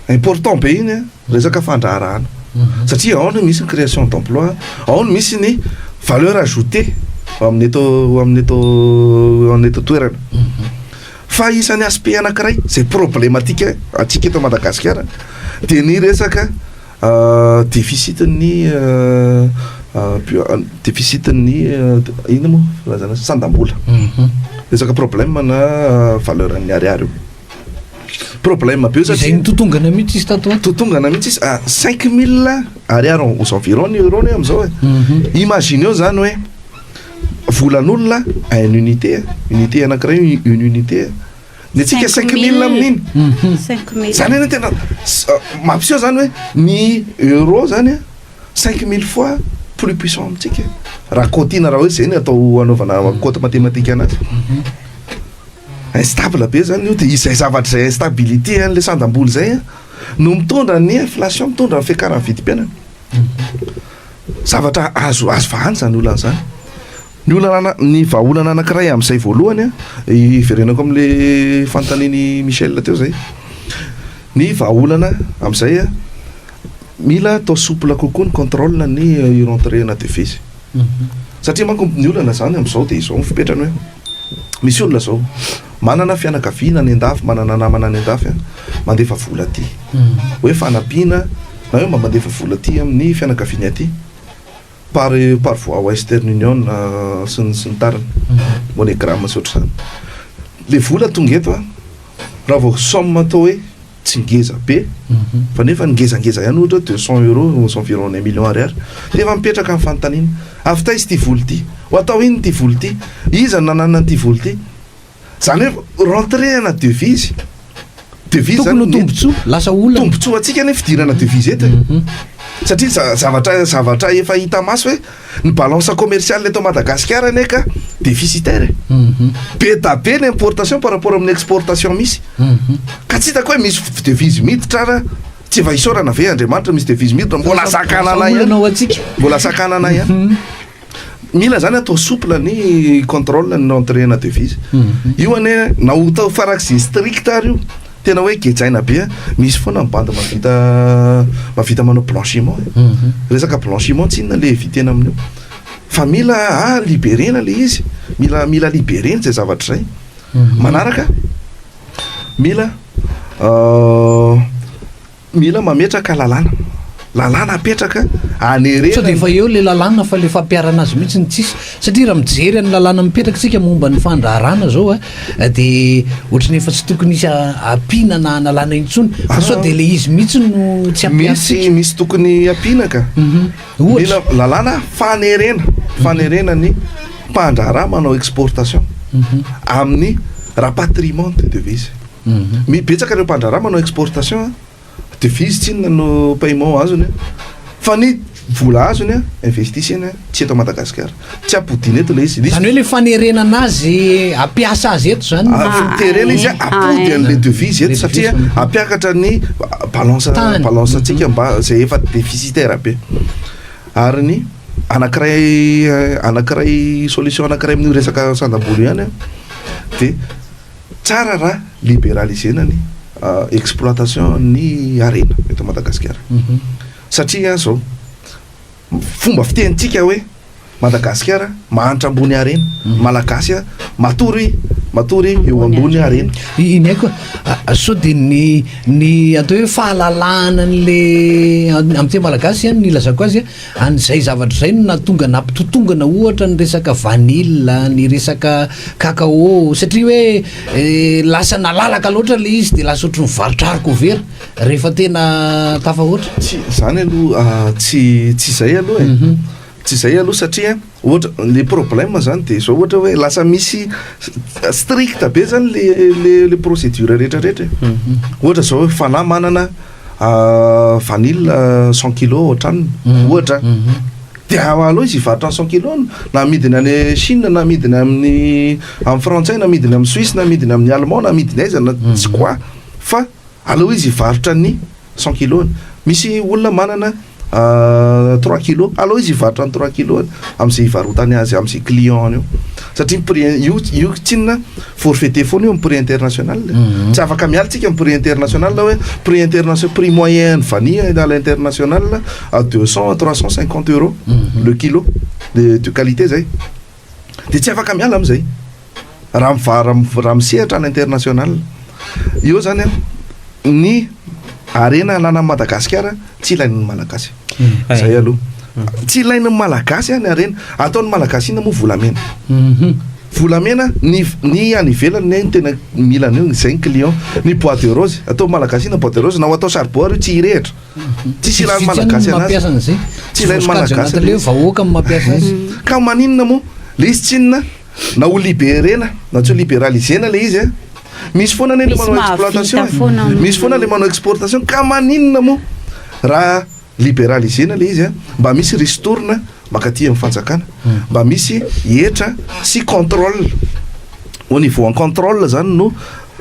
important be iny an, resaka fandraharahana. Mhm. Satria ao no misy ny création d'emploi, ao no misy ny valeur ajoutée ao amin'ny eto ao amin'ny eto ao amin'ny eto toerana. Mhm. Fa isan'ny aspect anankiray izay problematika antsika eto Madagasikara dia ny resaka Deficit ny deficit ny inona moa filazana azy? Sandam-bola. Resaka problème ana valeur ny ariary io. Problème be satria. Izay nitotongana mihitsy izy tato ho ato. Nitotongana mihitsy izy ah cinq mille ariary aux environs ny euro ny hoe amin'izao e. Imagineo zany hoe volan'olona un unité, unité anakiray une unité. de tsika cinq mille amin'iny zany eny tena mampiseho zany hoe ny euro zany a cinq mille fois plus puissant amintsika raha cotina raha hoe zay ny atao anaovana cote mathématique anazy mhm. instable be zany io de izay zavatra izay instabilité an'le sandam-bola zay a no mitondra ny inflation mitondra ny fiakaran'ny vidim-piainana mhm. zavatra azo azo vahany zany olana zany Ny olana, ny vahaolana anankiray amin'izay voalohany an, hiverenako amin'ilay fanontanian'i Michel teo izay. Ny vahaolana amin'izay an, mila atao souple kokoa ny contrôle ny rentrée na devises. Satria manko ny olana izany amin'izao dia izao ny fipetrany hoe, misy olona izao, manana fianakaviana any an-dafy, manana namana any an-dafy an, mandefa vola aty. Hoe fanampiana na hoe mba mandefa vola aty amin'ny fianakaviany aty. Par par voie western union sy ny sy ny tariny, monegram sy ohatr'izany. Le vola tonga eto a, raha vao somme atao hoe tsy ngeza be fa nefa ny ngezangeza ihany ohatra hoe deux cent euros aux environs d'un million ariary, de efa mipetraka ny fanontaniana, avy taiza ity vola ity? Ho atao inona ity vola ity? Iza no nananana an'ity vola ity? Zany hoe rentrée ana devise, devise zany mety. Tokony ho tombotsoa, lasa olana. Tombotsoa antsika ny fidirana devise eto e. Mhm. Satria zavatra zavatra efa hita maso hoe ny balance commerciale eto Madagasikara anie ka déficitaire e. Mhm. Be da be ny importation par rapport amin'ny exportation misy. Mhm. Ka tsy hitako hoe misy devise miditra ara tsy efa isaorana ve Andriamanitra misy devise miditra mbola sakanana ihany. Mbola sakanana ihany. Mila zany atao souple ny contrôle ny rentrée na devise. Io anie na ho tao farak'izay strict ary io, tena hoe gejaina be, misy foana ny bandy mahavita mahavita manao blanchiment e. Resaka blanchiment tsy inona le eviter-na amin'io. Fa mila a liberer-na le izy, mila mila liberer izay zavatra izay. Manaraka, mila Mila mametraka lalàna. Lalàna apetraka hanerena. Sao dia efa eo ilay lalàna fa ilay fampiharana azy mihitsy no tsisy. Satria raha mijery an'ny lalàna mipetraka isika momba ny fandraharahana izao a dia ohatran'ny efa tsy tokony hisy ampiana na analana intsony. Fa sao dia ilay izy mihitsy no tsy ampiana. Misy misy tokony ampiana ka. Mila lalàna fanerena, fanerena ny mpandraharaha manao exportation amin'ny rapatriement de devises. Hum betsaka ireo mpandraharaha manao exportation an, devise tsinona no paiement azony an, fa ny vola azony an, investiseny an, tsy eto Madagasikara, tsy ampodiana eto ilay izy, misy. Zany hoe ilay fanerenana azy hampiasa azy eto zany no. Avy miterena izy an, ampody an'ilay devise eto satria hampiakatra ny balance balance antsika mba izay efa deficitaire be. Ary ny anakiray anakiray solution anakiray amin'io resaka sandam-bolo ihany an dia. Tsara raha liberaliser-na ny exploitation ny harena eto Madagasikara. Satria izao, fomba fitenintsika hoe Madagasikara mahantra ambony harena, ny Malagasy matory matory eo ambony harena. Iny ihany koa, sao dia ny ny atao hoe fahalalahana an'ilay amin'ny teny malagasy izany no ilazako azy, Any izay zavatra izay no nahatonga nampitotongana ohatra ny resaka vanille, ny resaka cacao satria hoe lasa nalalaka loatra ilay izy dia lasa ohatran'ny varotra harikovera rehefa tena tafahoatra. Tsy izany aloha tsy tsy izay aloha e. Tsy izay aloha satria ohatra le problème zany dia izao ohatra hoe lasa misy strict be zany le le le procédure rehetra rehetra e. Ohatra izao hoe fanahy manana vanille cent kilos ohatranona mhm. ohatra mhm. de aleo izy hivarotra ny cent kilos na amidiny any chine na amidiny amin'ny amin'ny frantsay na amidiny amin'ny suisse na amidiny amin'ny allemand na amidiny aiza na mhm. tsy quoi fa aleo izy hivarotra ny cent kilos misy olona manana Trois kilos, aleo izy hivarotra ny trois kilos any amzay hivarotany azy amzay client-ny eo satria ny prix io io tsinona forfaiter foana io am prix international e, mhm. tsy afaka miala tsika am prix international hoe prix international prix moyen ny vanille à l'international à deux cent à trois cent cinquante euros mhm. le kilo de de qualité zay. dia tsy afaka miala amin'izay raha miva- raha raha misehatra any international. Eo izany an, ny harena ananan'i Madagasikara tsy ilain'ny Malagasy. Hay. Izay aloha. Tsy ilain'ny Malagasy ny harena. Ataon'ny Malagasy inona moa volamena? Mhm. Volamena ny v- ny any ivelany ny ahy no tena mila an'io, izay ny client. Ny bois de rose, ataon'ny Malagasy inona ny bois de rose? Na ho atao saribao ary io tsy hirehitra. Tsisy ilain'ny Malagasy anazy. Tsy ilain'ny Malagasy ilay izy. Ka maninona moa? Ilay izy tsinona na ho liberena na tsy ho liberalisena ilay izy an! Misy foana anie ilay manao exploitation e! Misy foana ilay manao exportation ka maninona moa raha liberalisena ilay izy an! Mba misy ristourne. mankaty amin'ny fanjakana mba misy hetra sy contrôle au niveau en contrôle zany no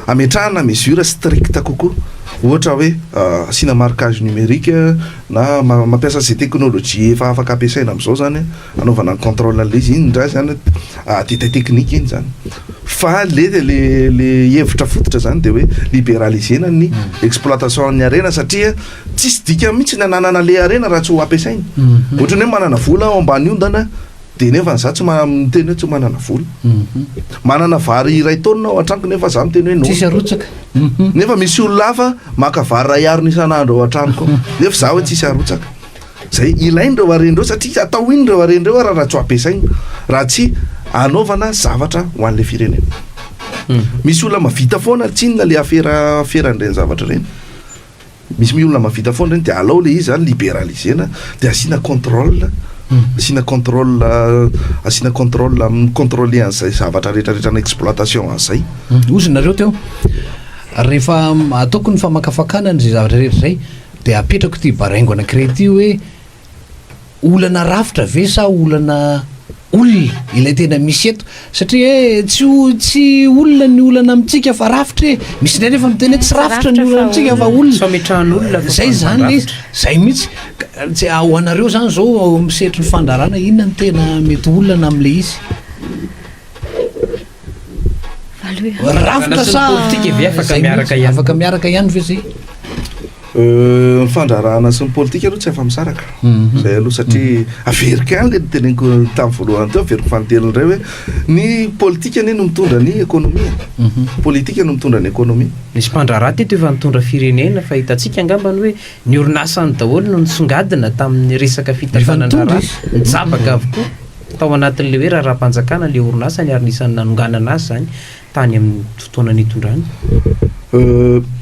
ametrahana mesure stricte kokoa ohatra hoe asiana marquage numérique na mampiasa ze technologie efa afaka ampiasaina amizao zany anaovana ny contrôle anle izy iny ndray zany détail technique iny zany fa le le le hevitra fototra zany de hoe liberaliser-na ny exploitation ny harena satria Tsisy dikany mihitsy ny ananana le harena raha tsy ho ampiasaina. Ohatran'ny hoe manana vola aho ambany ondana dia nefa izaho tsy miteny hoe tsy manana vola. Manana vary iray taonina ao an-tranoko nefa izaho miteny hoe non. Tsisy arotsaka. Nefa misy olona hafa maka vary iray harona isan'andro ao an-tranoko ao nefa izaho hoe tsisy arotsaka. Izay ilaina ireo harena ireo satria atao inona ireo harena ireo ary raha tsy ho ampiasaina, raha tsy hanaovana zavatra ho an'ilay firenena. Misy olona mahavita foana tsinona le afera afera an'ireny zavatra ireny. Misy mi olona mavita foana reny dia alao le izy zany liberalisena dia asiana controle asiana controle asiana controle amin'ny controle an'izay zavatra rehetra rehetra na exploitation an'izay ozy nareo teo rehefa ataoko ny famakafakana ny zay zavatra rehetra zay dia apetrako ty baraingo anankiray ty hoe olana rafitra ve sa olana olona ilay tena misy eto satria hoe tsy o- tsy olona ny olana amintsika fa rafitra e misy indray nefa miteny hoe tsy rafitra ny olana amintsika fa olona Fametrahan'olona fa zay zany le izy fandrafitra. zay mihitsy Ka- tsy a- ho anareo zany zao ao amin'ny sehatry ny fandrarana inona no tena mety olana amin'le izy Rafitra sa afaka miaraka ihany ve zay? Euh, ny fandrarahana sy ny politika aloha tsy afa-misaraka mhm. zay aloha satria mhm. averiko any le niteneniko tamin'ny voalohany teo averiko fanontelony ray hoe ny politika anie no mitondra ny ekonomia mhm. politika no mitondra ny ekonomia nisy mpandraraha teto efa nitondra firenena fa hitantsika angambany hoe ny orinasany daholo no nisongadina tamin'ny resaka fitafanandraraha nijabaka avokoa Tao anatin'ilay hoe raharaham-panjakana ilay orinasany ary anisan'ny nanonganana azy izany tany amin'ny fotoana nitondrany.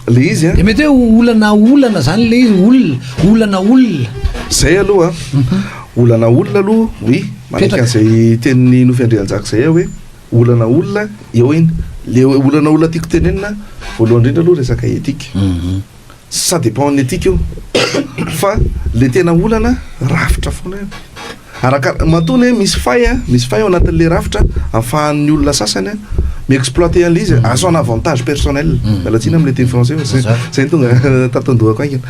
Ilay izy an. Dia mety hoe olana olana izany ilay izy, olona, olana olona. Izay aloha an, olana olona aloha, oui, manaiky an'izay tenin'i Nofy Andrianjaka izay aho hoe olana olona, eo iny. Ilay olana olona tiako tenenina voalohany indrindra aloha resaka éthique. Ça dépend ny antika io fa le tena olana rafitra foana io araka matoa ny hoe misy fay a misy fay ao anatin'le rafitra afahan'ny olona sasany a mi exploiter an'le izy à son avantage personnel miala tsiny amin'le teny français fa zay zay ny tonga tato an-dohako haingana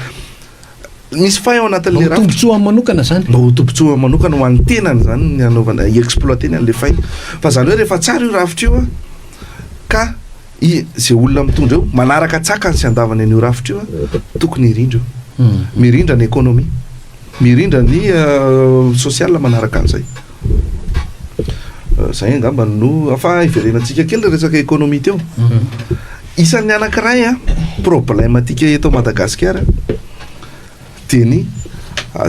misy fay ao anatin'le rafitra tombontsoa amin'ny manokana zany mba ho tombontsoa amin'ny manokana ho an'ny tenany zany ny anaovana i exploiter ny an'le fay fa zany hoe rehefa tsara io rafitra io a ka I ze olona mitondra eo manaraka tsakany sy andavany an'io rafitra io an, tokony hirindra io. Mirindra ny economie. Mirindra ny social manaraka an'izay. Zay angamba no, fa hiverenantsika kely le resaka economie teo. Isan'ny anankiray an, problème antsika eto Madagasikara, Teny,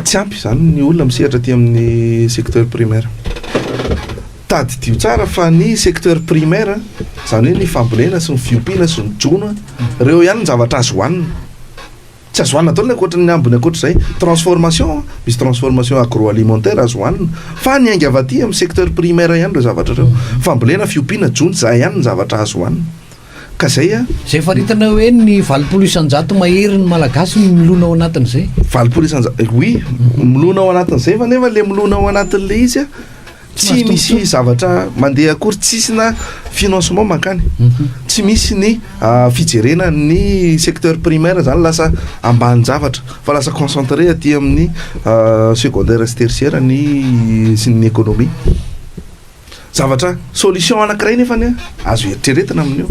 Tsy ampy izany ny olona misehatra aty amin'ny secteur primaire. Tadidio tsara fa ny secteur primaire, izany hoe ny fambolena sy ny fiompiana sy ny jono, ireo ihany ny zavatra azo hohanina. Tsy azo hohanina daholo ny ankoatra ny ambiny ankoatra izay. Transformation, misy transformation agroalimentaire azo hohanina. Fa niainga avy aty amin'ny secteur primaire ihany ireo zavatra ireo. Fambolena, fiompiana, jono, izay ihany ny zavatra azo hohanina. Ka zay a! Zay faritanao hoe ny valopolo isanjato mahery ny Malagasy no milona ao anatin'izay? Valopolo isanjato, oui, milona ao anatin'izay fa nefa le milona ao anatin'le izy a, tsy misy zavatra mandeha akory, tsisy na financement mankany, tsy misy ny fijerena ny secteur primaire zany lasa ambanin-javatra fa lasa concentré aty amin'ny secondaire sy tertiaire ny sy ny économie. Zavatra, solution anankiray nefany an, azo eritreretina amin'io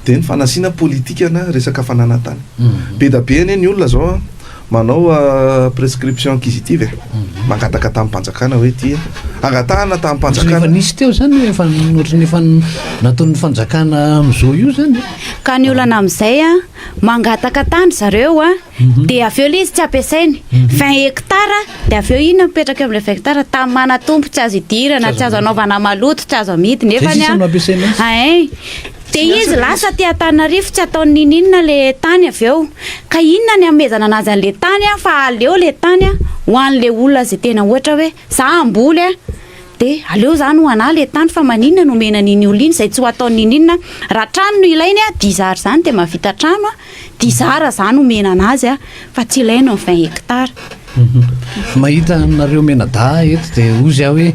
dia ny fanasiana politikana resaka fananantany. Be da be anie ny olona zao an, manao prescription acquisitive e, mangataka tamim-panjakana hoe ity angatahana tamim-panjakana. Efa nisy teo zany hoe efa ohatran'ny efa nataon'ny fanjakana amin'izao io zany e. Ka ny olana amin'izay an, mangataka tany zareo an, dia avy eo ilay izy tsy ampiasainy. 20 mhm. hectares, dia avy eo inona mipetraka eo amin'ilay 20 hectares, tany manatompo tsy azo idirana, tsy azo anaovana maloto, tsy azo amidy nefa ny ahay. Dia izy lasa aty Antananarivo tsy ataony nininona le tany avy eo. Ka inona ny amezana anazy an'le tany a fa aleo le tany a ho an'le olona izay tena ohatra hoe za hamboly a dia aleo zany ho anah le tany fa maninona no omena an'iny olona iny izay tsy ho ataony nininona. Raha trano no ilainy a dia izy ary izany dia mahavita trano a. Dizara izany omena an'azy a, fa tsy ilaina ny vingt hectares. Mahita anareo mianadahy eto dia hozy aho hoe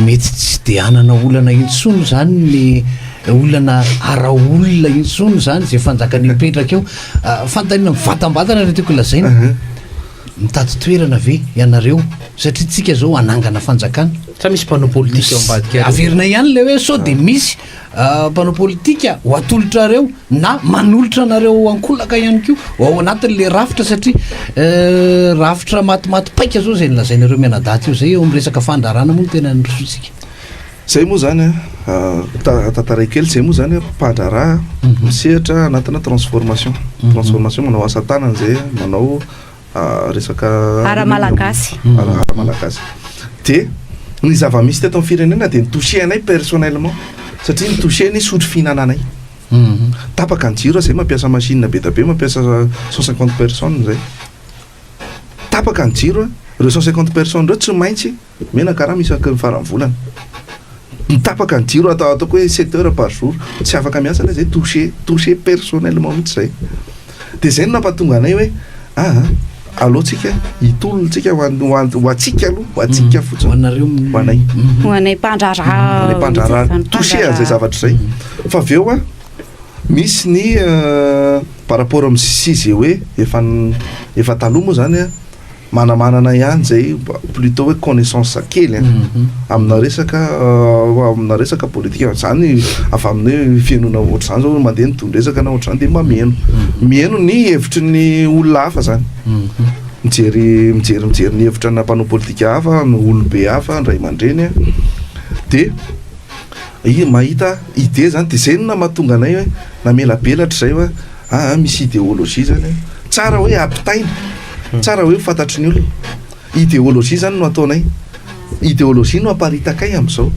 mety tsy dia hanana olana intsony izany ny olana ara-olona intsony izany izay fanjakana hipetraka eo. Fanontaniana mivantambatana no tiako lazaina, mitady toerana ve ianareo satria tsika izao hanangana fanjakana? Sa misy mpanao politika ao ambadika ao? Averina ihany ilay hoe sao dia misy mpanao politika ho atolotrareo na manolotra anareo ankolaka ihany koa ho ao anatin'le rafitra satria euh, rafitra matimaty paika zao zay nilazainareo mianadaty io zay eo miresaka fandrarana moa no tena nisotsika zay moa zany a ah, ta- tantaray kely zay moa zany a, mpandraharaha misehatra anatina transformation transformation manao asa tanana zay manao resaka ara-malagasy ara-malagasy dia ny zava-misy teto amin'ny firenena dia nitouché anay personnellement satria nitouché ny sotro fihinananay mhm. tapaka ny jiro zay mampiasa machine be da be mampiasa cent cinquante personnes zay tapaka ny jiro ireo cent cinquante personnes ireo tsy maintsy Omena karama isaky ny faran'ny volana. Ny tapaka ny jiro atao ataoko hoe sept heures par jour, tsy afaka miasa ilay izay, touché, touché personnellement mihitsy izay. Dia izay no nampatonga anay hoe aa, aleontsika hitolontsika ho an, ho an, ho antsika aloha, ho antsika fotsiny. Ho anareo mi, ho anay. Ho anay mpandraharaha. Ho anay mpandraharaha touché an'izay zavatra izay. Fa avy eo an, misy ny par rapport amin'ny sise hoe efa, efa taloha moa izany an, manamanana ihany zay plutot hoe connaissance kely an amina resaka amina resaka politika zany avy amin'ny hoe fihainoana ohatr'izany zao mandeha ny tohin-dresaka na ohatr'izany dia mameno mihaino ny hevitry ny olona hafa zany mijery mijery mijery ny hevitra na mpanao politika hafa na olobe hafa ny ray aman-dreny an dia i- mahita idée zany dia zay no na mahatonga anay hoe namelabelatra izay hoe aa misy idéologie zany an tsara hoe ampitaina Tsara hoe ho fantatry ny olona. Ideologie izany no ataonay. Ideologie no aparitakay amin'izao.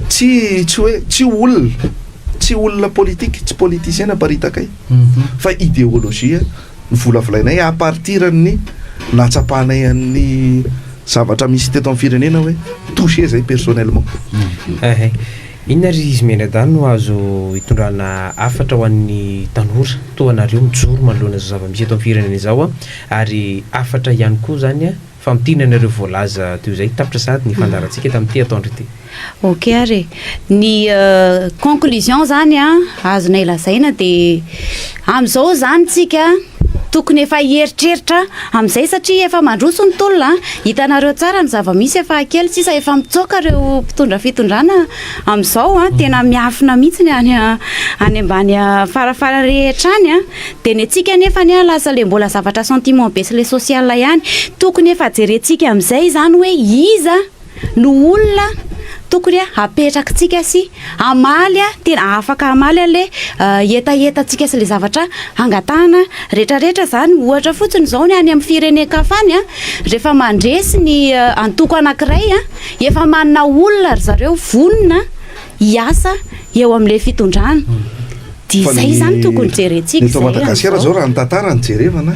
Tsy tsy hoe tsy olona, tsy olona politique, tsy politicien no aparitakay fa ideologie no volavolainay à partir an'ny nahatsapanay an'ny zavatra misy teto amin'ny firenena hoe touché zay personnellement. Inona ry izy mianadahy no azo itondrana hafatra ho an'ny tanora toa anareo mijoro manoloana izao zava-misy eto amin'ny firenena izao a! ary hafatra ihany koa izany a! famintinana ireo voalaza teo izay, tapitra sahady ny fandaharantsika tamin'ity atoandro ity. Ok ary e! ny conclusion izany a! azonay lazaina dia amin'izao izany tsika Tokony efa hieritreritra amin'izay satria efa mandroso ny tolona an! Hitanareo tsara ny zava-misy efa kely sisa efa mitsoaka ireo mpitondra fitondrana amin'izao an! Tena miafina mihitsy ny any any ambany farafara rehetra any an! Dia ny antsika anefa anie lasa ilay mbola zavatra sentiment be sy ilay social ihany! Tokony efa jerentsika amin'izay izany hoe iza no olona tokony hapetrakintsika sy hamaly tena afaka hamaly an'ilay hetahetantsika sy ilay zavatra hangatahana rehetrarehetra izany. Ohatra fotsiny izao ny any amin'ny firenen-kafa any, rehefa mandresy ny antoko anankiray, efa manana olona ry zareo vonona hiasa eo amin'ilay fitondrana. Dia izay izany tokony jerentsika. Eto Madagasikara izao raha ny tantara no jerevana,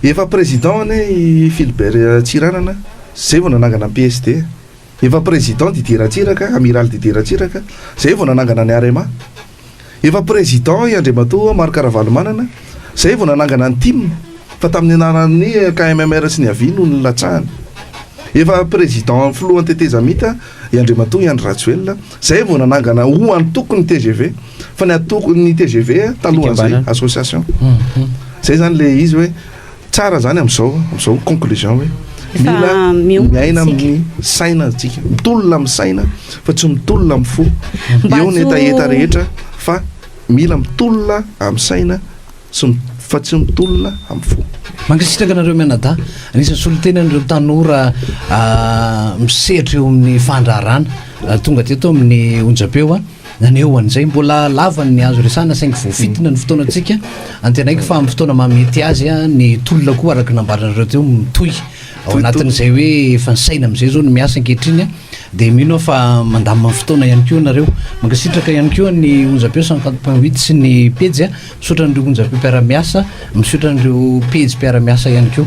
efa président anie i Philbert Tsiranana. Zay vao nanangana ny PSD. Efa président Didier Ratsiraka, Amiral Didier Ratsiraka, zay vao nanangana ny Arema. Efa président i Andriamatoa Marc Ravalomanana, zay vao nanangana ny tim, fa tamin'ny anaran'ny KMMR sy ny Avi no nilatsahany. Efa président filohan'ny tetezamita i Andriamatoa i Andry Rajoelina, zay vao nanangana ho antoko ny tgv, fa ny antoko, ny tgv talohan'izay, association. Zay zany le izy hoe Tsara zany amzao amzao conclusion hoe mila miaina amin'ny saina atsika mitolona amin'ny saina fa tsy mitolona amin'ny fo eo ny hetaheta rehetra fa mila mitolona amin'ny saina sy fa tsy mitolona amin'ny fo mankasitraka anareo mianadahy anisan'ny solotena an'ireo tanora ah, misedra eo amin'ny fandraharana ah, tonga teto amin'ny onjapeo a ah. Naneho an'izay mbola lava ny azo resahana saingy voafintina ny fotoanantsika. Antenaiko fa amin'ny fotoana maha mety azy ny tolona koa araka ny nambaranareo teo mitohy ao anatin'izay hoe efa ny saina amin'izay izao no miasa ankehitriny dia mino aho fa mandamina ny fotoana ihany koa ianareo. Mankasitraka ihany koa ny onjam-peo cinquante point huit sy ny pejy. Misaotra an'ireo onjam-peo mpiara-miasa, misaotra an'ireo pejy mpiara-miasa ihany koa.